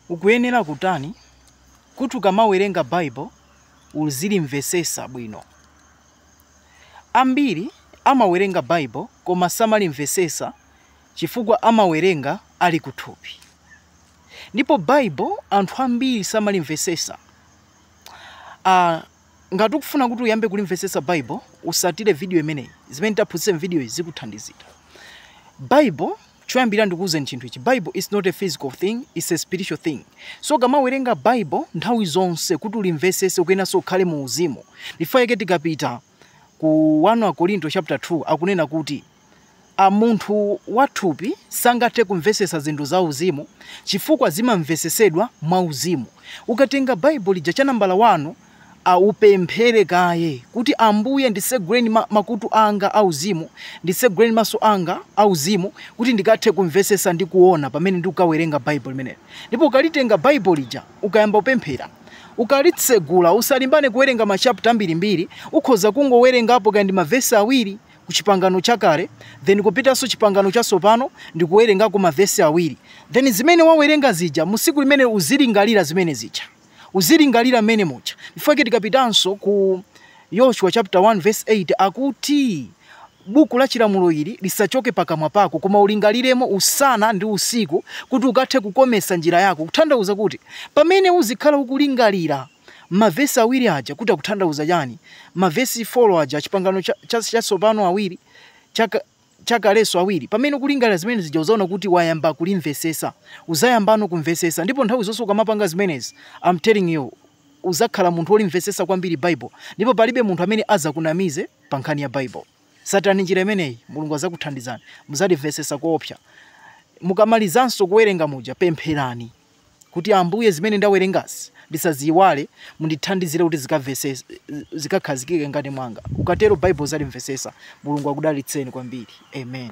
Ukuyenera kutani kuti ukamawerenga bible uzilimvesesa bwino? Ambiri amawerenga bible koma samalimvesesa chifukwa amawerenga ali kuthupi. Ndipo bible anthu ambiri samalimvesesa. Ngati ukufuna kuti uyambe kulimvesesa Bible, usatire vidiyo imeneyi. Zimene titaphunzitse m'vidiyoyi zikuthandizira. Bible, choyambirira ndikuuzeni chinthu ichi, Bible is not a physical thing, it's a spiritual thing. So ukamawerenga Bible, nthawi zonse kuti ulimvesese ukuyeneranso ukhale mu uzimu. N'chifukwa chake tikapita ku 1 Akorinto chapter 2, akunena kuti. a Munthu wathupi sangathe kumvesesa zinthu za uzimu chifukwa zimamvesesedwa mwa uzimu. Ukatenga Bible lija cha nambala wani, a upemphere kaye kuti Ambuye nditseguleni makutu anga a uzimu, nditseguleni maso anga a uzimu kuti ndikathe kumvesesa ndi kuona pamene ndikuwerenga Bible limeneli. Ndipo ukalitenga Bible lija, ukayamba kupemphera, ukalitsegula usalimbane kuwerenga ma chapter ambirimbiri, ukhoza kungowerengapo kaya ndi ma verse awiri, ku chipangano chakale then kupitanso chipangano chatsopano ndikuwerengako mavesi awiri then zimene wawerenga zija musiku limene uzilingalira zimene zija uzilingalira mmene muja n'chifukwa chake tikapitanso ku yoshua chapter 1 verse 8 akuti buku la chilamulo ili lisachoke pakamwa pako koma ulingaliremo usana ndi usiku kuti ukathe kukomesa njira yako kuthandauza kuti pamene uzikhala ukulingalira Ma vesi awiri aja kuti akuthandauza chani? Ma vesi folo aja chipangano chatsopano awiri, chakalenso awiri? Pamene ukulingalira zimene zija uzaona kuti wayamba kulimvesesa. Uzayambano kumvesesa. Ndipo nthawi zonse ukamapanga zimenezi, I'm telling you, uzakhala munthu olimvesesa kwambiri Bible. Ndipo palibe munthu amene azakunamize pa nkhani ya Bible. Satirani njira imeneyi, Mulungu azakuthandizani. Muzalimvesesa koopsa. Mukamalizanso kuwerenga muja, pempherani. kuti, Ambuye, zimene ndawerengazi ndisaziiwale, mundithandizire kuti zikavese, zikakhazikike mkati mwanga. Ukatero Bible uzalimvesesa. Mulungu akudalitseni kwambiri. Amen.